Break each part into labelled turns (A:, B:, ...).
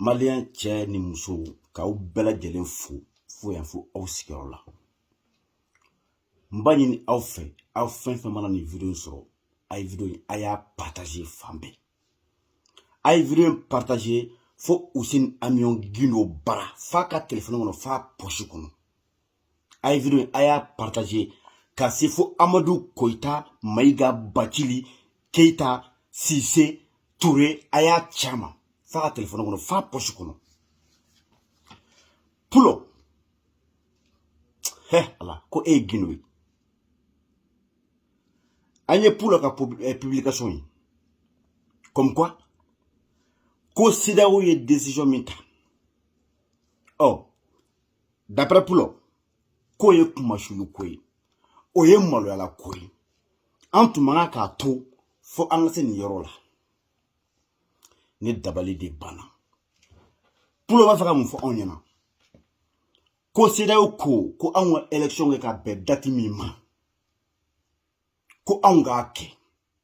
A: maliyɛn cɛ ni muso k'aw bɛɛ lajɛlen fo fo yan fo aw sigiyɔrɔ la n b'a ɲini aw fɛ aw fɛn fɛn mana nin video in sɔrɔ a ye video in a y'a partage fan bɛɛ a ye video in partage fo usini amiyɔn gindo bara f'a ka telefɔni kɔnɔ f'a pɔsi kɔnɔ a ye video a y'a partage ka se fo amadu koyita mayiga bacili keyita sise ture a y'a caman f'a ka telefɔni kɔnɔ f'a pɔsi kɔnɔ pulo hɛ ala ko e ye gindo ye an ye pulo ka eh, publication ye comme quoi ko sedaw ye décision min ta ɔ oh, d'après pulo k'o ye kunmasuuli ko ye o ye maloyala ko ye an tun man kan k'a to fo an ka se nin yɔrɔ la ne dabali de banna pulo b'a fɛ ka mun fɔ anw ɲɛna ko sedaw ko ko anw ka election kɛ ka bɛn dati min ma ko anw k'a kɛ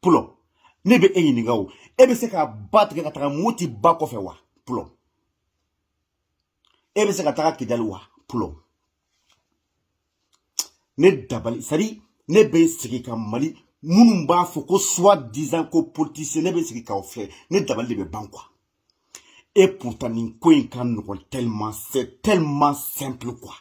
A: pulo ne bɛ e ɲininka o e bɛ se ka ba tigɛ ka taga moti ba kɔfɛ wa pulo e bɛ se ka taga kidali wa pulo ne dabali sari ne bɛ sigi ka mali minnu b'a fɔ ko soi-disant ko politicien ne bɛ sigi k'aw filɛ ne dabali de bɛ ban quoi et pourtant nin ko in ka nɔgɔn tellement c'est tellement simple quoi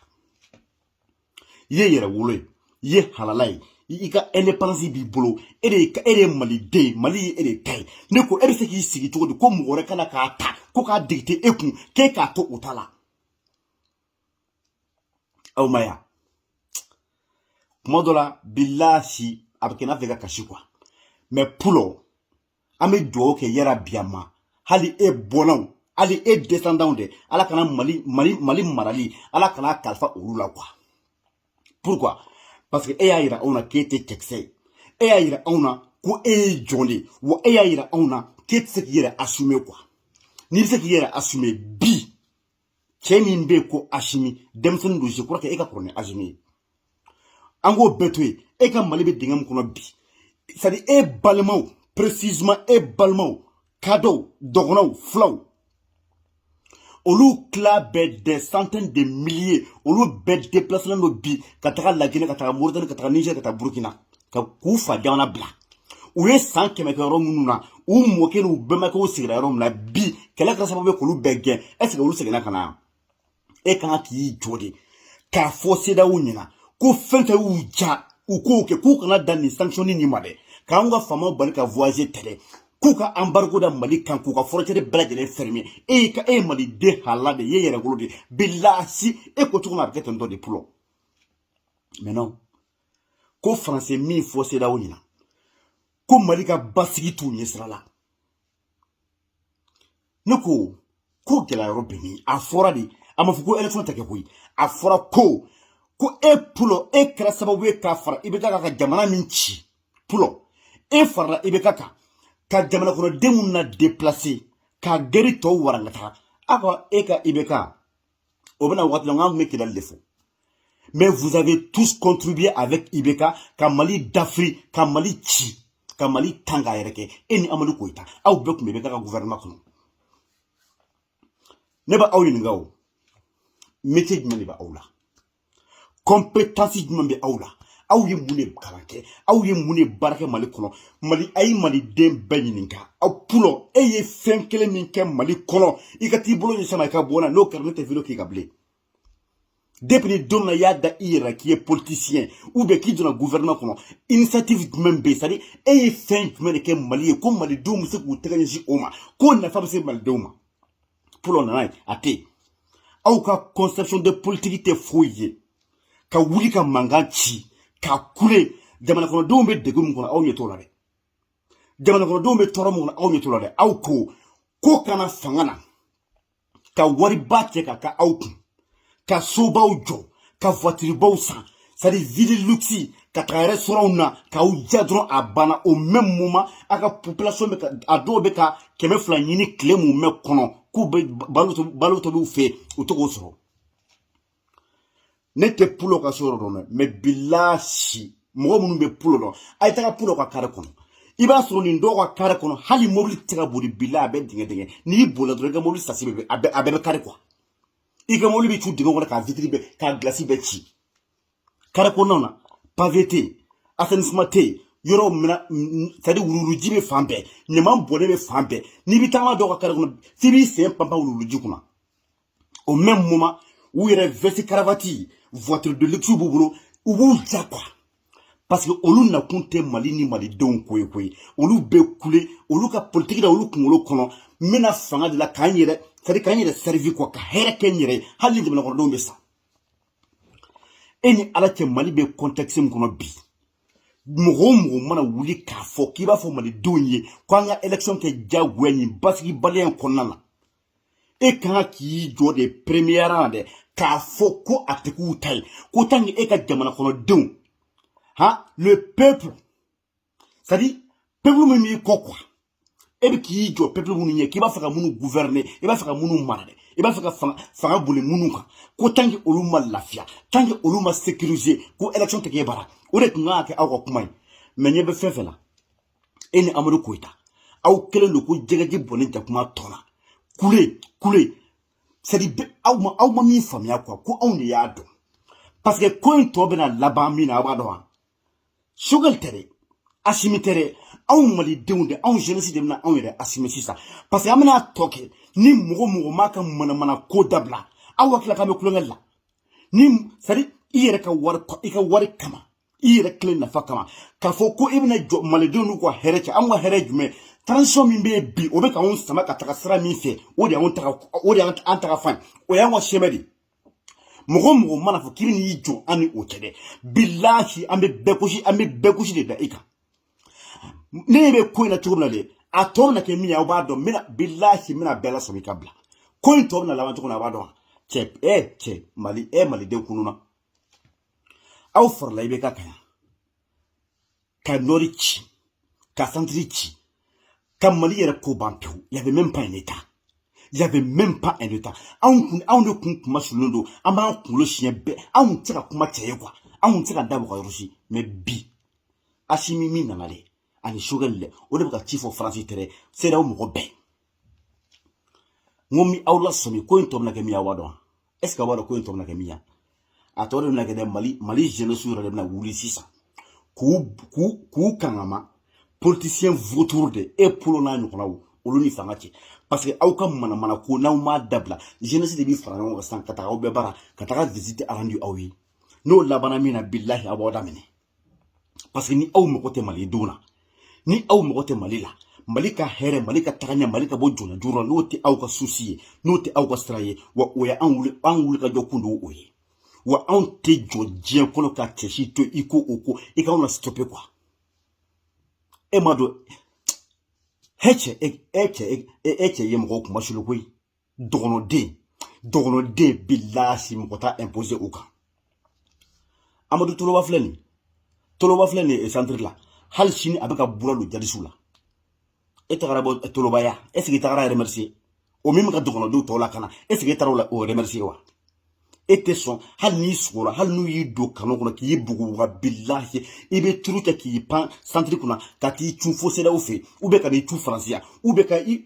A: i ye yɛrɛwolo ye i ye halala ye i ka indépendance b'i bolo e de e de ye maliden mali ye e de ta ye ne ko e bɛ se k'i sigi cogo di ko mɔgɔ wɛrɛ ka na k'a ta ko k'a dicter e kun k'e k'a to o ta la aw ma ya kuma dɔ la bilasi a bɛ kɛ n'a fɛ ka kasi quoi mais pulo an bɛ dugawu kɛ yɛrɛ biyama hali e bɔnnaw hali e descendantw dɛ ala kana mali mali mali marali ala kan'a kalifa olu la quoi pourquoi parce que e y'a yira anw na k'e tɛ cɛkisɛ ye e y'a yira anw na ko e ye jɔn de ye wa e y'a yira anw na k'e tɛ se k'i yɛrɛ assumer quoi n'i bɛ se k'i yɛrɛ assumer bi cɛ min bɛ yen ko asimi denmisɛnnin don je crois que e ka kɔrɔ ni asimi ye an k'o bɛɛ to yen e ka mali bɛ dingɛ min kɔnɔ bi c'est-à-dire e balimaw précisément e balimaw kadɔw dɔgɔnɔw filaw olu tila bɛɛ des centaines de milliers olu bɛɛ déplacelen don bi ka taga laginɛ ka taga moritani ka taga niger ka taga burkina ka k'u fa jamana bila u ye san kɛmɛ kɛ yɔrɔ minnu na u mɔkɛ n'u bɛnbakɛw sigira yɔrɔ min na bi kɛlɛ kɛra sababu ye k'olu bɛɛ gɛn est-ce que olu seginna ka na yan e kan ka k'i jɔ de k'a fɔ CEDEAO ɲɛna ko fɛn fɛn y'u diya u k'o kɛ k'u kana dan nin sanction nin ma dɛ k'an ka faamaw bali ka voyager tɛrɛ k'u ka embargo da mali kan k'u ka frontière bɛɛ lajɛlen fermer e y'i ka e ye maliden halala de ye yɛrɛwolo de bilasi e ko cogo min a bɛ kɛ ten tɔ de pulɔ mais non ko faransi min fɔ CEDEAO ɲɛna ko mali ka basigi t'u ɲɛsira la ne ko ko gɛlɛya yɔrɔ bɛ min a fɔra de a ma fɔ ko élection tɛ kɛ koyi a fɔra ko ko e pulɔ e kɛra sababu ye ka fara Ibeka ka jamana min ci pulɔ e farala Ibeka kan ka jamana kɔnɔdenw na deplase ka gɛri tɔw warangata aw ka e ka Ibeka o bɛna waati la n k'an tun bɛ kɛlɛli de fɔ mais vous avez tous contribué avec Ibeka ka Mali dafiri ka Mali ci ka Mali tan k'a yɛrɛkɛ e ni Amadu Koyita aw bɛɛ tun bɛ Ibeka ka gouvernement kɔnɔ ne bɛ aw ɲininka o métier jumɛn de bɛ aw la kɔnpetansi jumɛn bɛ aw la aw ye mun de kalan kɛ aw ye mun de baara kɛ mali kɔnɔ mali a ye maliden bɛɛ ɲininka aw pulɔ e ye fɛn kelen min kɛ mali kɔnɔ i ka t'i bolo ɲɛsin a ma i ka bɔ na n'o kɛra ne tɛ video k'i kan bilen depuis don min na i y'a da i yɛrɛ la k'i ye politisiyɛn ou bien k'i donna gouvernement kɔnɔ initiative jumɛn bɛ yen c'est-à-dire e ye fɛn jumɛn de kɛ mali ye ko malidenw bɛ se k'u tɛgɛ ɲɛsin o ma k'o nafa bɛ se malidenw ma pulɔ na n'a ye a tɛ yen aw ka conception de politique tɛ foyi ye ka wuli ka mankan ci ka kule jamanakɔnɔdenw bɛ degun min kɔnɔ aw ɲɛ t'o la dɛ jamanakɔnɔdenw bɛ tɔɔrɔ min kɔnɔ aw ɲɛ t'o la dɛ aw ko ko ka na fanga na ka wariba cɛ ka kɛ aw kun ka sobaw jɔ ka voitiribaw san c'est vie de luxe ka taga restaurantw na k'aw ja dɔrɔn a banna au même moment a ka population bɛ ka a dɔw bɛ ka kɛmɛ fila ɲini tile mumɛ kɔnɔ k'u bɛ balo tobi balo tobiw fɛ u tɛ k'o sɔrɔ ne tɛ pulo ka so yɔrɔ dɔn dɛ mais bilasi mɔgɔ minnu bɛ pulo dɔn a ye taga pulo ka kare kɔnɔ i b'a sɔrɔ nin dɔw ka kare kɔnɔ hali mobili tɛ ka boli bila a bɛɛ dingɛ dingɛ n'i bolila dɔrɔn i ka mobili sasi bɛ a bɛɛ bɛ kari quoi i ka mobili bɛ cun dingɛ kɔnɔ k'a vitiri bɛɛ k'a gilasi bɛɛ ci kare kɔnɔnaw na pavé tɛ yen assainissement tɛ yen yɔrɔ min na c'est-à-dire wuluwuluji bɛ fan bɛɛ ɲaman bɔnnen bɛ fan bɛɛ n'i bɛ taama dɔw ka kare kɔnɔ f'i b'i sen panpan wuluwuluji kunna au même moment u yɛrɛ veste cravate voiture de luxe b'u bolo u b'u ja quoi parce que olu nakun tɛ mali ni malidenw ko ye koyi olu bɛ kule olu ka politiki la olu kunkolo kɔnɔ n bɛ na fanga de la ka n yɛrɛ sadi ka n yɛrɛ sɛrivi kɔ ka hɛrɛ kɛ n yɛrɛ ye hali ni jamanakɔnɔdenw bɛ sa e ni ala cɛ mali bɛ kɔntɛkisi min kɔnɔ bi mɔgɔ o mɔgɔ mana wuli k'a fɔ k'i b'a fɔ malidenw ye ko an ka elekisɔn kɛ diyagoya nin basigibaliya in kɔnɔna na e kan ka k'i jɔ de premier rang dɛ k'a fɔ ko a tɛ k'u ta ye ko tan e ka jamana kɔnɔdenw ha le peuple sadi peuple min b'i kɔ kuwa e bɛ k'i jɔ peuple minnu ɲɛ k'i b'a fɛ ka minnu gouverner i b'a fɛ ka minnu mara dɛ i b'a fɛ ka fanga fanga boli minnu kan ko tant que olu ma lafiya tant que olu ma sécuriser ko élection tɛ k'e bara o de tun kan ka kɛ aw ka kuma ye mɛ ɲɛ bɛ fɛn fɛn na e ni amadu koyita aw kɛlen don ko jɛgɛji bɔnnen jakuma tɔ la kule kule sadi aw ma aw ma min faamuya kuwa ko anw de y'a dɔn paseke ko in tɔ bɛna laban min na aw b'a dɔn wa sogɛli tɛ dɛ asimi tɛ dɛ anw malidenw de anw jeunesse de bɛna anw yɛrɛ assumer sisan parce que an bɛn'a tɔ kɛ ni mɔgɔ mɔgɔ m'a ka manamana ko dabila aw hakilila k'an bɛ tulonkɛ la ni sadi i yɛrɛ ka wari i ka wari kama i yɛrɛ kelen nafa kama k'a fɔ ko i bɛna jɔ malidenw n'u ka hɛrɛ cɛ anw ka hɛrɛ ye jumɛn transition min bɛ yen bi o bɛ ka anw sama ka taga sira min fɛ o de y'anw taga o de y'an taga fan o y'an ka chemin de mɔgɔ mɔgɔ mana fɔ k'i bɛn'i jɔ an ni o cɛ dɛ bilahi an bɛ bɛɛ gosi an bɛ bɛɛ gosi de da i kan ne ɲɛ bɛ ko in na cogo min na de a tɔ bɛna kɛ min ye aw b'a dɔn n bɛna bilahi n bɛna bɛɛ lasɔmi ka bila ko in tɔ bɛna laban cogo min na a b'a dɔn cɛ ɛ cɛ mali ɛ malidenw kununna aw farala ibk kan yan ka nɔri ci ka santiri ci ka mali yɛrɛ ko ban pewu y avait même pas un état y avait même pas un état anw kun anw de kun kunmasulilen don an b'an kunkolo siɲɛ bɛɛ anw tɛ se ka kuma cɛ ye kuwa anw tɛ se ka da bɔ ka yɔrɔ si mɛ bi asimi min nana dɛ ani sogɛli dɛ o de bɛ ka ci fɔ faransi tɛrɛ seerew mɔgɔ bɛɛ n ko n bɛ aw lasɔmi ko in tɔ bɛna kɛ min ye aw b'a dɔn est ce que a b'a dɔn ko in tɔ bɛna kɛ min ye a tɔ de bɛna kɛ dɛ mali mali jeunesse yɛrɛ de bɛna wuli sisan k'u k'u k'u kangama politicien vautour de e polo n'a ɲɔgɔnnaw olu ni fanga cɛ parce que aw ka manamana ko n'aw m'a dabila jeunesse de bɛ fara ɲɔgɔn kan sisan ka taga aw bɛɛ bara ka taga visite arandu aw ye n'o labanna min na bilahi aw b'aw da minɛ parce que ni aw mago tɛ malidenw na ni aw mago tɛ mali la mali ka hɛrɛ mali ka tagaɲɛ mali ka bɔ jɔnya juru la n'o tɛ aw ka susi ye n'o tɛ aw ka sira ye wa o ye an wuli an wuli ka jɔ kun d'o ye wa anw tɛ jɔ diɲɛ kɔnɔ ka cɛ si to i ko o ko i ka anw na stoppe quoi e ma dɔn e cɛ e cɛ e cɛ ye mɔgɔw kunmasuli koyi dɔgɔnɔden dɔgɔnɔden bilahi mɔgɔ t'a imposer o kan amadu toloba filɛ nin toloba filɛ nin centre la hali sini a bɛ ka bura don jadisiw la e tagara bɔ toloba ye est ce que i tagara remercier o min bɛ ka dɔgɔnɔdenw tɔw lakana est ce que e taara o la o remercier wa e tɛ sɔn hali n'i sugora hali n'u y'i don canon kɔnɔ k'i bugu wa bilahi i bɛ turu kɛ k'i pan centre kunna ka t'i cun fo CEDEAO fɛ yen u bɛ ka n'i cun faransi yan u bɛ ka i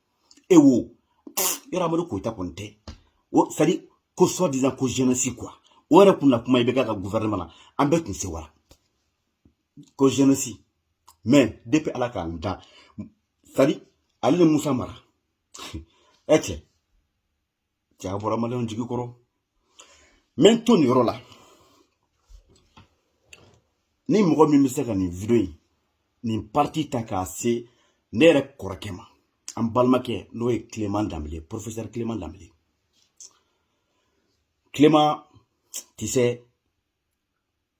A: e wo yɔrɔ amadu koyita kɔni tɛ o sadi ko soi disant ko jeunesse quoi o yɛrɛ kun na kuma IBK ka gouvernement na an bɛɛ tun sɛwara ko jeunesse mais depuis ala ka n dan sadi ale ni musa mara ɛ cɛ cɛ aw bɔra maliyɛnw jigi kɔrɔ n bɛ n to nin yɔrɔ la ni mɔgɔ min bɛ se ka nin video in nin parti ta k'a se ne yɛrɛ kɔrɔkɛ ma an balimakɛ n'o ye clément dembélé professeur clément dembélé clément tu sais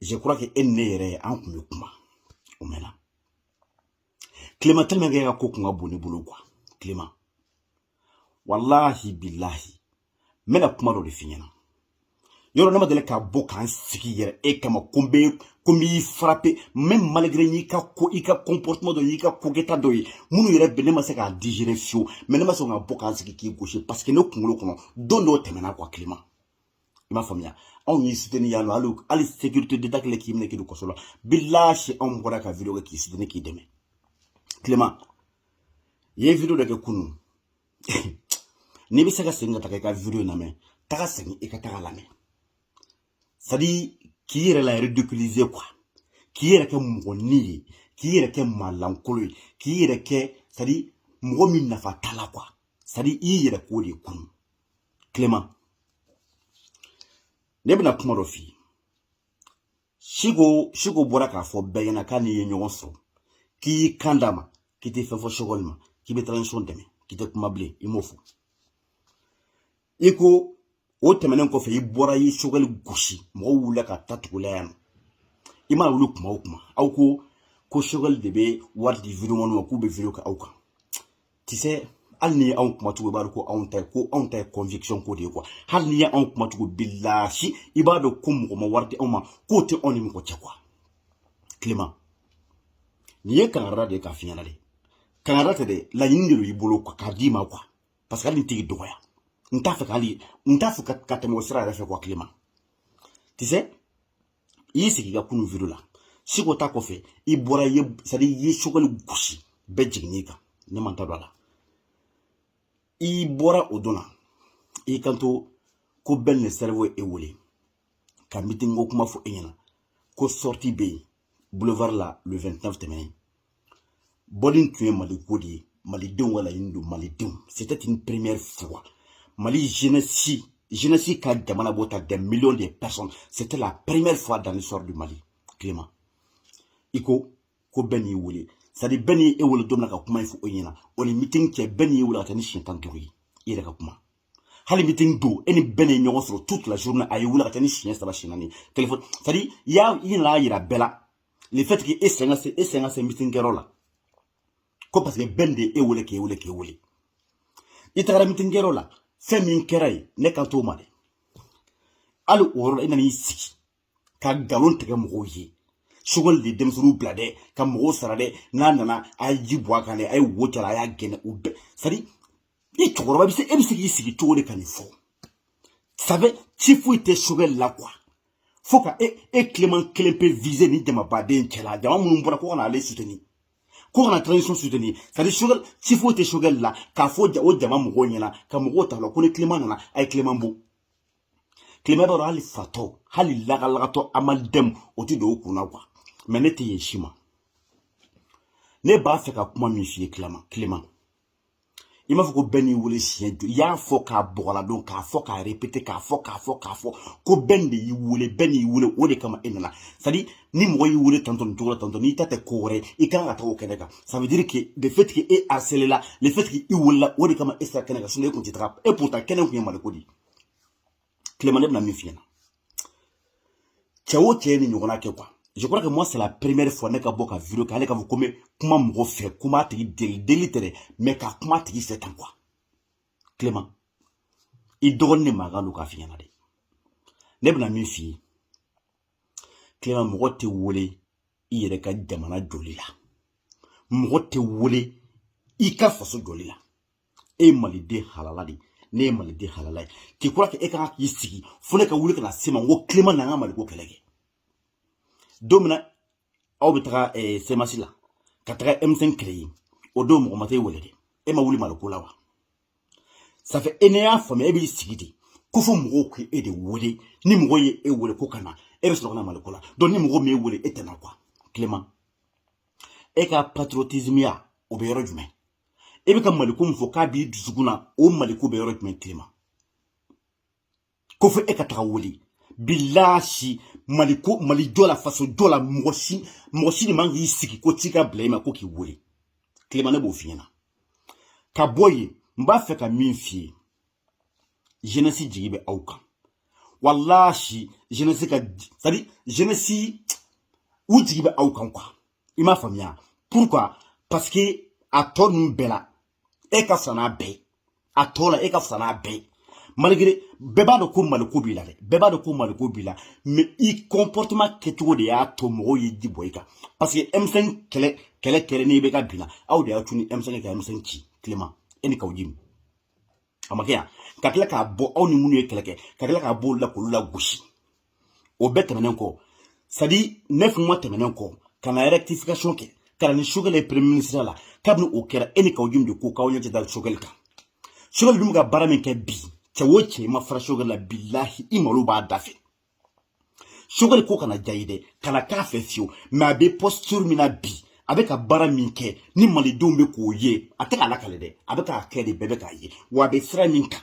A: je crois que e ni ne yɛrɛ an kun bɛ kuma o mɛnna clément tɛmɛ kɛ ka ko kun ka bon ne bolo quoi clément walahi bilahi n bɛna kuma dɔ de f'i ɲɛna yɔrɔ ne ma deli ka bɔ ka n sigi yɛrɛ e kama ko n bɛ ko n b'i frapper même malgré n y'i ka ko i ka comportement dɔ y'i ka ko kɛta dɔ ye minnu yɛrɛ bɛ ne ma se k'a digérer fiyewu mais ne ma sɔn ka bɔ ka n sigi k'i gosi parce que ne kunkolo kɔnɔ don dɔw tɛmɛna quoi clément i m'a faamuya anw y'i soutenir yan nɔ hali hali sécurité d'état kɛlen k'i minɛ k'i don kaso la bilahi anw bɔra ka video kɛ k'i soutenir k'i dɛmɛ clément i ye video dɔ kɛ kunun n'i bɛ se ka segin ka taga i ka video in lamɛn taga segin i ka taga lamɛn c'est à dire k'i yɛrɛ la ridiculiser quoi k'i yɛrɛ kɛ mɔgɔnin ye k'i yɛrɛ kɛ maa lankolo ye k'i yɛrɛ kɛ c'est à dire mɔgɔ min nafa t'a la quoi c'est à dire i y'i yɛrɛ k'o de kunun clément ne bɛna kuma dɔ f'i ye siko siko bɔra k'a fɔ bɛɛ ɲɛna k'a n'i ye ɲɔgɔn sɔrɔ k'i y'i kan d'a ma k'i tɛ fɛn fɔ sogɛli ma k'i bɛ transition dɛmɛ k'i tɛ kuma bilen i m'o fɔ i ko o tɛmɛnen kɔfɛ i bɔra i sogɛli gosi mɔgɔw wulila ka t'a tugu i la yan i mana wuli kuma o kuma aw ko ko sogɛli de bɛ wari di videoman ma k'u bɛ video kɛ aw kan tu sais hali ni anw kumacogo b'a dɔn ko anw ta ye ko anw ta ye conviction ko de ye quoi hali n'i ye anw kumacogo bilahi i b'a dɔn ko mɔgɔ ma wari di anw ma k'o tɛ anw ni mɔgɔ cɛ quoi clément nin ye kangari de ye k'a f'i ɲɛna dɛ kangari tɛ dɛ laɲini de don i bolo k'a d'i ma quoi parce que hali n tɛ k'i dɔgɔya n t'a fɛ ka hali n t'a fɛ ka tɛmɛ o sira yɛrɛ fɛ quoi clément tu sais i y'i sigi i ka kunu video la siko ta kɔfɛ i bɔra i ye c'est à dire i ye choguel gosi bɛɛ jiginni kan ne ma n da don a la i bɔra o don na i kanto ko ben le cerveau y'e wele ka meeting ko kuma fɔ e ɲɛna ko sortie bɛ yen boulevard la le 29 tɛmɛnen bɔli tun ye mali ko de ye malidenw ka laɲini don malidenw c'était une première fois mali jeunesse jeunesse ka jama labɔ tan des millions de personnes c'était la première fois dans l'histoire du mali clément i ko ko ben y'i wele c'est à dire ben ye e wele don min na ka kuma in fɔ e ɲɛna o ni meeting cɛ ben y'i wele ka taa ni siɲɛ tan duuru ye i yɛrɛ ka kuma hali meeting don e ni ben ye ɲɔgɔn sɔrɔ toute la journée a y'e wele ka taa ni siɲɛ saba siɲɛ naani telefɔni c'est à dire i y'a i nana yira bɛɛ la le fait que e sen ka se e sen ka se meeting kɛyɔrɔ la ko parce que ben de ye e wele k'e wele k'e wele i tagara meeting kɛyɔrɔ la fɛn min kɛra yen ne kan t'o ma dɛ hali o yɔrɔ la i nana i sigi ka nkalon tigɛ mɔgɔw ye choguel de ye denmisɛnninw bila dɛ ka mɔgɔw sara dɛ n'a nana a ye ji bɔn a kan dɛ a ye wo ci a la a y'a gɛn o bɛɛ c'est à dire i cɛkɔrɔba bɛ se e bɛ se k'i sigi cogo di ka nin fɔ sɛbɛ ci foyi tɛ choguel la quoi fo ka e e clément kelen pe viser nin jamaba de cɛla jama minnu bɔra ko ka na ale soutenir ko ka na transition soutenir c'est à dire choguel ci foyi tɛ choguel la k'a fɔ o jama mɔgɔw ɲɛna ka mɔgɔw ta la ko ni clément nana a ye clément bon clément b'a dɔn hali fatɔ hali lagalagatɔ amalidɛmu o tɛ don o kun na quoi mais ne tɛ yen si ma ne b'a fɛ ka kuma min f'i ye clément i m'a fɔ ko ben y'i wele siɲɛ joli i y'a fɔ k'a bɔ k'a ladon k'a fɔ k'a répété k'a fɔ k'a fɔ k'a fɔ ko ben de y'i wele ben y'i wele o de kama e nana c'est à dire ni mɔgɔ y'i wele tantɔ nin cogo la tantɔ n'i ta tɛ ko wɛrɛ i kan ka taga o kɛnɛ kan ça veut dire que le fait que e harcelé la le fait que i welela o de kama e sera kɛnɛ kan sinon e tun tɛ taga et pourtant kɛnɛ tun ye maliko de ye clément ne bɛna min f'i ɲɛna cɛ o cɛ ye nin ɲɔgɔnna kɛ quoi je crois que moi c'est la première fois ne ka bɔ ka video kɛ ale ka fɔ ko n bɛ kuma mɔgɔ fɛ ko n b'a tigi deli deli tɛ dɛ mais ka kuma a tigi fɛ tan quoi clément i dɔgɔnin de mankan don k'a f'i ɲɛna dɛ ne bɛna min f'i ye clément mɔgɔ tɛ wele i yɛrɛ ka jamana jɔli la mɔgɔ tɛ wele i ka faso jɔli la e ye maliden halala de ye ne ye maliden halala ye k'i kura kɛ e ka kan k'i sigi fo ne ka wuli ka na s'e ma n ko clément na an ka maliko kɛlɛ kɛ don min na aw bɛ taga eh, cmas la ka taga m5 créer yen o don mɔgɔ ma t'e wele dɛ e ma wuli maliko la wa safɛ e ne y'a faamuya e b'i sigi de ko fo mɔgɔw k'e e de wele ni mɔgɔ ye e wele ko ka na e bɛ sɔrɔ ka na maliko la donc ni mɔgɔ m'e wele e tɛ na quoi clément e ka patriotismiya o bɛ yɔrɔ jumɛn e bɛ ka maliko min fɔ k'a b'i dusukun na o maliko bɛ yɔrɔ jumɛn clément ko fo e ka taga wele bilaasi mali ko mali jɔ la faso jɔ la mɔgɔ si mɔgɔ si de man kan k'i sigi ko ci ka bila i ma ko k'i wele clément ne b'o f'i ɲɛna ka bɔ yen n b'a fɛ ka min f'i ye jenɛsi jigi bɛ aw kan walahi jenɛsi c'est-à-dire jenɛsi u jigi bɛ aw kan quoi i m'a faamuya pourquoi parce que a tɔ ninnu bɛɛ la e ka fisa n'a bɛɛ a tɔ la e ka fisa n'a bɛɛ malgré bɛɛ b'a dɔn ko maliko b'i la dɛ bɛɛ b'a dɔn ko maliko b'i la mais i comportement kɛcogo de y'a to mɔgɔw ye jigi bɔ i kan parce que M5 kɛlɛ kɛlɛ kɛlen IBK binna aw de y'a tunu M5 ka M5 ci clément e ni kawujim a ma kɛ yan ka tila k'a bɔ aw ni minnu ye kɛlɛ kɛ ka tila k'a bɔ olu la k'olu lagosi o bɛɛ tɛmɛnen kɔ c'est-à-dire neuf mois tɛmɛnen kɔ ka na rectification kɛ ka na ni sokɛli ye premier ministre la kabini o kɛra e ni kawujim de ko k'aw ɲɛ tɛ da sokɛli kan sokɛli dun bɛ ka baara min kɛ bi cɛ o cɛ n'i ma fara sokɛli la bilahi i malo b'a dafɛ sokɛli ko kana diya i dɛ kana k'a fɛ fiyewu mais a bɛ posture min na bi a bɛ ka baara min kɛ ni malidenw bɛ k'o ye a tɛ k'a lakali dɛ a bɛ k'a kɛ de bɛɛ bɛ k'a ye wa a bɛ sira min kan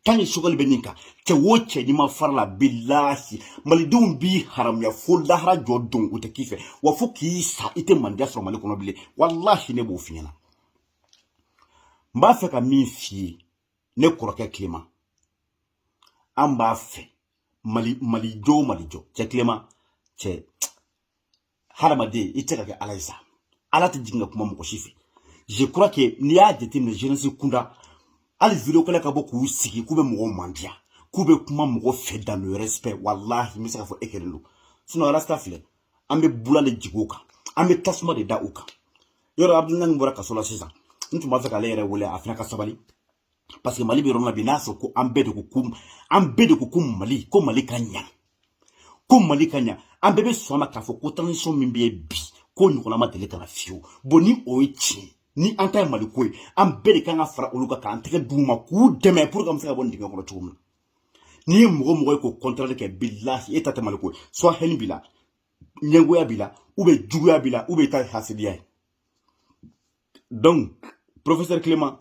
A: tan ni sogɛli bɛ nin kan cɛ wo cɛ n'i ma fara a la bilahi malidenw b'i haramuya fo lahara jɔ don u tɛ k'i fɛ wa fo k'i sa i tɛ mandiya sɔrɔ mali kɔnɔ bilen walahi ne b'o f'i ɲɛna n b'a fɛ ka min f'i ye ne kɔrɔkɛ clément an b'a fɛ mali mali jɔ o mali jɔ cɛ clément cɛ hadamaden i tɛ ka kɛ ala ye sa ala tɛ jigin ka kuma mɔgɔ si fɛ je crois que n'i y'a jateminɛ jeunesse kunda hali video kɛlaw ka bɔ k'u sigi k'u bɛ mɔgɔw mandiya k'u bɛ kuma mɔgɔ fɛ dans le respect walahi n bɛ se k'a fɔ e kelen don sinon arasta filɛ an bɛ bula de jigin o kan an bɛ tasuma de da o kan yɔrɔ abudulayi bɔra kaso la sisan n tun b'a fɛ k'ale yɛrɛ wele a fana ka sabali parce que mali bɛ yɔrɔ min na bi n'a sɔrɔ ko an bɛɛ de ko ko an bɛɛ de ko ko mali ko mali ka ɲa ko mali ka ɲa an bɛɛ bɛ sɔn a ma k'a fɔ ko transition min bɛ yen bi ko ɲɔgɔnna ma deli ka na fiyewu bon ni o ye tiɲɛ ye an ta ye mali ko ye an bɛɛ de kan ka fara olu kan k'an tɛgɛ d'u ma k'u dɛmɛ pour que an bɛ se ka bɔ nin dingɛ kɔnɔ cogo min na n'i ye mɔgɔ mɔgɔ ye k'o contraire kɛ bilahi e ta tɛ mali ko ye soit haine b'i la ɲɛngoya b'i la ou bien juguya b'i la ou bien i ta ye hasidiya ye donc professeur clément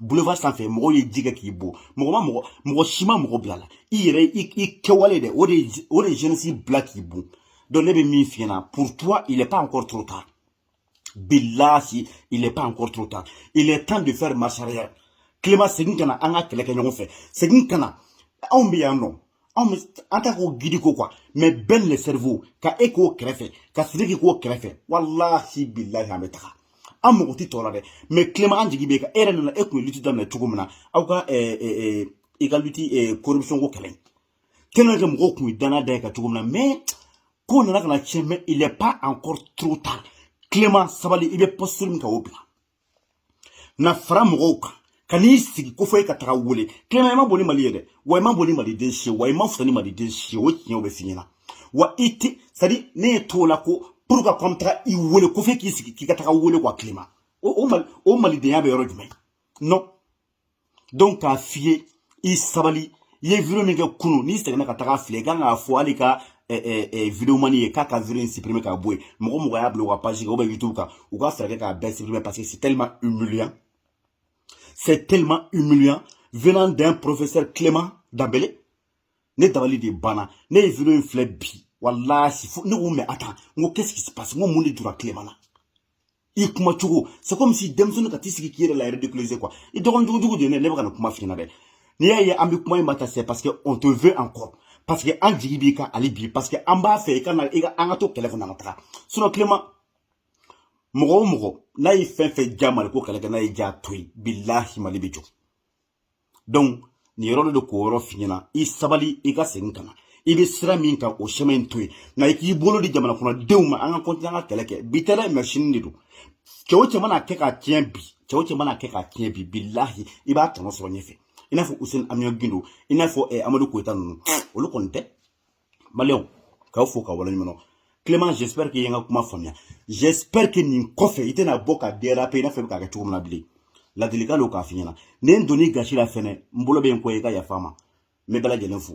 A: boulevard sanfɛ mɔgɔw ye ji kɛ k'i bon mɔgɔ ma mɔgɔ mɔgɔ si ma mɔgɔ bila i la i yɛrɛ i kɛwale dɛ o de o de jeunesse bila k'i bon donc ne bɛ min f'i ɲɛna pour toi il est pas encore trop tard bilahi il est pas encore trop tard il est temps de faire marche arrière clément segin ka na an ka kɛlɛ kɛ ɲɔgɔn fɛ segin ka na anw bɛ yan nɔ anw bɛ an ta k'o gidi ko quoi mɛ Ben le cerveau ka e k'o kɛrɛfɛ ka sidiki k'o kɛrɛfɛ walahi bilahi an bɛ taga an mago tɛ tɔ la dɛ mɛ Clément an jigi b'i kan e yɛrɛ nana e tun ye luti daminɛ cogo min na aw ka i ka luti corruption ko kɛlɛ tellement que mɔgɔw tun ye danaya da e kan cogo min na mɛ ko nana ka na tiɲɛ mɛ il est pas encore trop tard Clément sabali i bɛ posture min kan o bila na fara mɔgɔw kan ka n'i sigi ko fo i ka taga wele Clément i man bon ni mali ye dɛ wa i man bon ni maliden si wa i man fisa ni maliden si ye o tiɲɛ bɛ f'i ɲɛna wa an tɛ siran e ɲɛ t'o la ko pour ka kɔmi taga i wele ko f'e k'i sigi k'i ka taga wele quoi Clément o o mali o malidenya bɛ yɔrɔ jumɛn non donc k'a f'i ye i sabali i ye video min kɛ kunu n'i seginna ka taga filɛ i kan k'a fɔ hali ka eh, eh, eh, videomani ye k'a ka video in supprimer k'a bɔ yen mɔgɔ o mɔgɔ y'a bila u ka page kan ou bien youtube kan u ka fɛɛrɛ kɛ k'a bɛɛ supprimer parce que c'est tellement humiliant c'est tellement humiliant venant d'un professeur clément danbele ne dabali de banna ne ye video in filɛ bi walahi ne ko mɛ attends n ko qu'est ce qui se passe n ko mun de jura clément na i kuma cogo c'est comme si denmisɛnnin ka t'i sigi k'i yɛrɛ la ridiculiser quoi i dɔgɔnin jugu jugu de ye ne ne bɛ ka nin kuma f'i ɲɛna dɛ n'i y'a ye an bɛ kuma i ma tan c'est parce que on te veut encore parce que an jigi b'i kan hali bi parce que an b'a fɛ i ka na i ka an ka to kɛlɛ fana ka taga sinon Clément mɔgɔ o mɔgɔ n'a ye fɛn o fɛn ja mali ko kɛlɛ kɛ n'a ye ja to yen bilahi mali bɛ jɔ donc nin yɔrɔ de k'o yɔrɔ f'i ɲɛna i sabali i ka segin ka na i bɛ sira min kan o chemin in to yen na i k'i bolo di jamana kɔnɔdenw ma an ka kɔntinɛ an ka kɛlɛ kɛ bi tɛ dɛ mɛ sini de don cɛ o cɛ mana kɛ k'a tiɲɛ bi cɛ o cɛ mana kɛ k'a tiɲɛ bi bilahi i b'a tɔnɔ sɔrɔ ɲɛfɛ i n'a fɔ useni amiyɔn gindo i n'a fɔ eh, amadu koyita ninnu olu kɔni tɛ maliyɛnw k'aw fo ka waleɲumandɔn Clément j'espère que i ye n ka kuma faamuya j'espère que nin kɔfɛ i tɛna bɔ ka déraper i n'a fɔ i bɛ k'a kɛ cogo min na bilen ladilikan don k'a f'i ɲɛna ni n donn'i gasi la fɛnɛ n bolo bɛ n kɔ i ka yafa n ma n bɛ bɛɛ lajɛlen fo